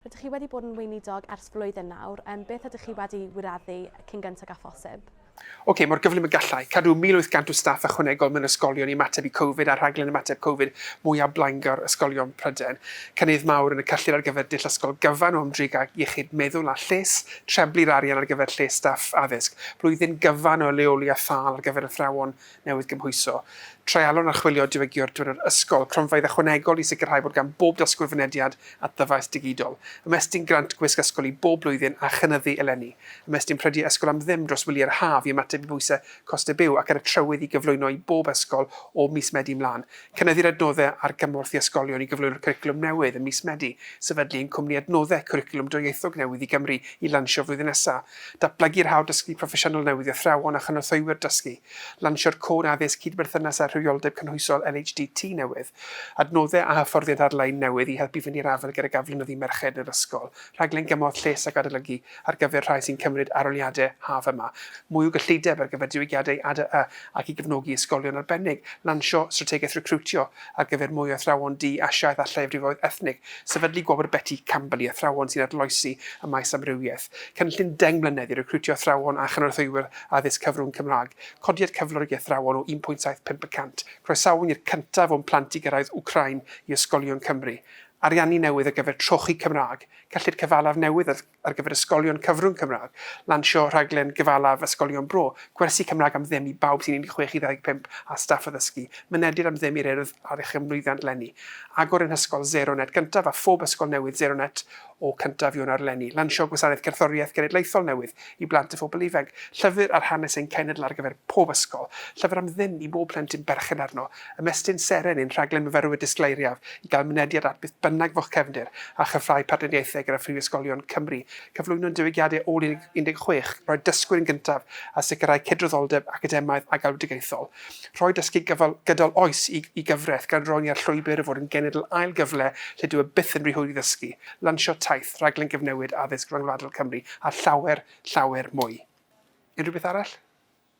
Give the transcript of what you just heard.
Rydych chi wedi bod yn weinidog ers flwyddyn nawr, yym beth ydych chi wedi wireddu cyn gyntag â phosib? Ok, mor gyflym y gallai. Cadw 1,800 o staff ychwanegol mewn ysgolion i ymateb i Covid a'r rhaglen ymateb Covid mwyaf blaengar ysgolion Prydain. Cynnydd mawr yn y cyllid ar gyfer dull ysgol gyfan o ymdrin ag iechyd meddwl a lles, trebli'r arian ar gyfer lles staff addysg, blwyddyn gyfan o leoli a thâl ar gyfer athrawon newydd gymhwyso, treialon a chwilio diwygio'r drwy'r yr ysgol, cronfeydd ychwanegol i sicrhau bod gan bob dysgwr fynediad at ddyfais digidol, ymestyn grant gwisg ysgol i bob blwyddyn a chynyddu eleni, ymestyn prediau ysgol am ddim dros wyliau'r haf i ymateb i bwysau costau byw ac ar y trywydd i gyflwyno i bob ysgol o mis Medi mlaen, cynyddu'r adnoddau ar gymorth i ysgolion i gyflwyno'r cwricwlwm newydd ym mis Medi, sefydlu ein cwmni adnoddau cwricwlwm dwyieithog newydd i Gymru i lansio flwyddyn nesaf, Datblygu'r hawl dysgu proffesiynol newydd i athrawon a chynorthwywyr dysgu, lansio'r Cod Addysg Cydberthynas â Rhywioldeb Cynhwysol LHDT newydd, adnoddau a hyfforddiant ar-lein newydd i helpu fynd i'r afael gydag aflonyddu merched yn yr ysgol, rhaglen gymorth lles ac adolygu ar gyfer rhai sy'n cymryd arholiadau haf yma, mwy o gyllideb ar gyfer diwygiadau ADAA ac i gefnogi ysgolion arbennig, lansio strategaeth recriwtio ar gyfer mwy o athrawon du, Asiaidd a lleiafrifoedd ethnig, sefydlu Gwobr Betty Campbell i athrawon sy'n arloesi ym maes amrywiaeth. Cynllun deng mlynedd i recriwtio athrawon a chynorthwywyr addysg cyfrwng Cymraeg, codiad cyflwr i athrawon o 1.75 y cant, croesawu i'r cyntaf o'n plant i gyrraedd Wcráin i ysgolion Cymru, ariannu newydd ar gyfer trochi Cymraeg, cyllid cyfalaf newydd ar gyfer ysgolion cyfrwng Cymraeg, lansio rhaglen gyfalaf ysgolion bro, gwersi Cymraeg am ddim i bawb sy'n 16 i 25 a staff addysgu, mynediad am ddim i'r Urdd Addysg am lwyddiant leni, agor ein hysgol Zero Net gyntaf a phob ysgol newydd Zero Net O cyntaf Ionawr eleni, lansiodd Gwasanaeth Cerddoriaeth Genedlaethol newydd i blant a phobl ifanc, Llyfr ar Hanes ein Cenedl ar gyfer pob ysgol, llyfr am ddim i bob plentyn berchen arno, Ymestyn Seren, ein rhaglen myfyrwyr disgleiriaf i gael mynediad at beth bynnag fo'ch cefndir, a chryfhau partneriaethau gyda phrifysgolion Cymru, cyflwyno'n diwygiadau ôl 16, roi dysgwyr yn gyntaf a sicrhau cydraddoldeb academaidd a galwedigaethol. Rhoi dysgu gydol oes i gyfraith gan roi ni ar llwybr o fod yn genedl ail gyfle lle dyw e byth yn rhy hwyr i ddysgu. Lansio taith, rhaglen gyfnewid addysg ryngwladol Cymru a llawer, llawer mwy. Unrhyw beth arall?